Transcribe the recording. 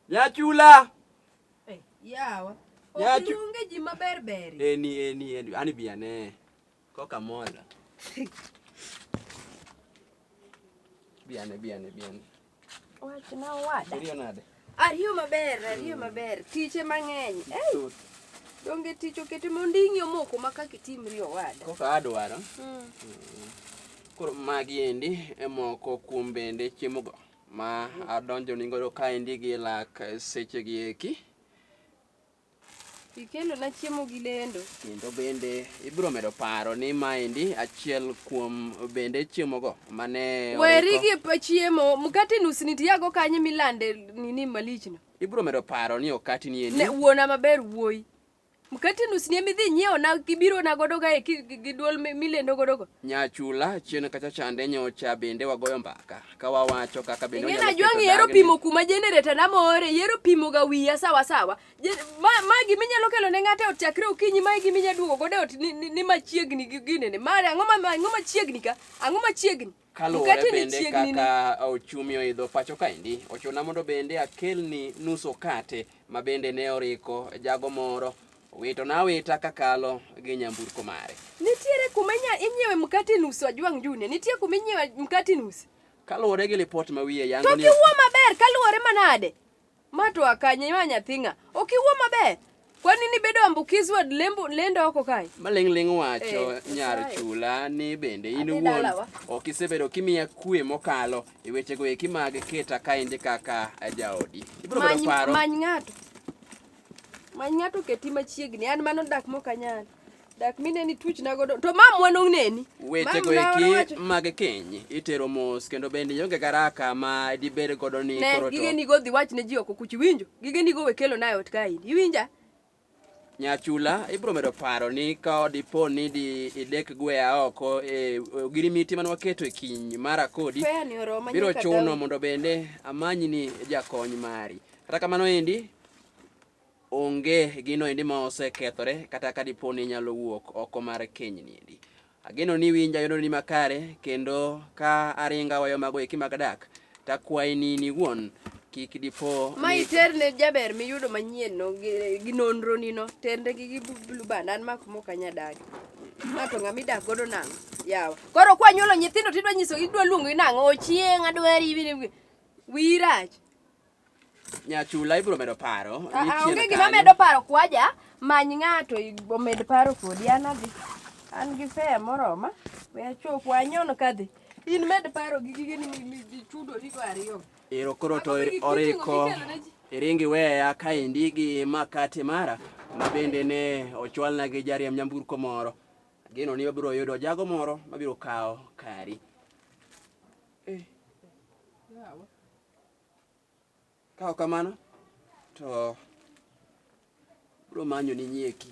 Nyachula. Eh, yawa. Nyachu. Onge ji maber ber. Eni eni eni ani bi ane. Koka mola. Bi ane bi ane bi ane. Wach na wada. Rio nade? Ariyo maber, ariyo maber. Tiche mang'eny. Eh. Donge tich okete monding'yo moko ma kaka itimri owada. Koka adwaro. Mm. Mm. Koro magi endi e moko kuom bende chiemogo ma adonjo ni godo kaendi gi lak seche gi eki. Ikelo na chiemo gi lendo. Kendo bende ibiro medo paro ni maendi achiel kuom bende chiemogo mane Weri gi chiemo, mkate nus nitiyago kanye milande nini malichno? Ibiro medo paro ni okati ni endi. Ne wuona maber wuoyi. Mkati nus ni emidhi nyiewo na gibiro na godo ga gi duol milendo godo go. Nyachula chien kacha chande nyocha bende wagoyo mbaka ka wawacho kaka bende onyalo. Ngena jwangi yero pimo kuma generator na more yero pimo ga wiya sawa sawa. Ma ma gimi nyalo kelo ne ngate ot chakre okinyi ma gimi nya duogo godo ot ni, ni, ni machiegni gi ginene. Ma ang'o ma ang'o machiegni ka? Ang'o machiegni? Kaluwore bende kaka ochumi oidho pacho kaendi, ochuna mondo bende akelni nus okate ma bende ne oriko jago moro wito na wita kakalo gi nyamburko mare. Nitiere kuma inyiewe mkate nus Ojwang' Junior, nitie kuma inyiewe mkate nus. Kaluwore gi lipot ma wiye yango ni... To kiwuo maber kaluwore manade? Ma to akanye ma nyathi ng'a? Ok iwuo maber. Kwani ni bedo ambukizi wad lembo lendo oko kae. Maling ling wacho Eh, nyar Nyasaye. chula ni bende in Adhi wuon dalawa. ok isebedo kimiya kwe mokalo e wechego eki mag keta kaendi kaka jaodi. Ibiro bedo Many paro. many ng'ato. Many ng'ato keti machiegni. An mano dak mok anyal. dak mineni tuch nagodo to ma mwano neni weche go eki mag keny itero mos kendo bende yonge garaka ma dibed godo ni koro to gige ni go dhi wach ne ji oko kuchi winjo gige ni go we kelo nayo ot kae iwinja nyachula ibro medo paro ni ka dipo ni di idek gwea oko e ogirimiti man waketo e kiny mara kodi biro chuno mondo bende amanyi ni jakony mari kata kamano endi onge gino endi ma osekethore kata ka dipo ni inyalo wuok oko mar kenyni endi. Ageno ni winja yono ni makare kendo ka aringa wayo mago eki mag dak to akwayi ni in iwuon kik dipo ma iter ne jaber miyudo manyien no gi nonro nino tende gi gi blue band an mako mok anya dagi ng'ato ng'a midak godo nang'o yawa koro kwa nyuolo nyithindo tidwa nyiso idwa luongo nang'o ochieng' adwari wira Nyachula ibro medo paro. Ah, ah, onge gima medo paro kwaja many ng'ato omed paro kodi an adhi. An gi fea moroma. We achop wanyono kadhi. In med paro gi gige ni michudo ni go ariyo. Ero koro to oriko. Iringi weya ka indigi makate mara mabende ne ochwalna gi jariam nyamburko moro. Gino ni wabiro yudo jago moro mabiro kawo kari. Eh. Yeah, Ka ok kamano to bro manyo ni nyieki.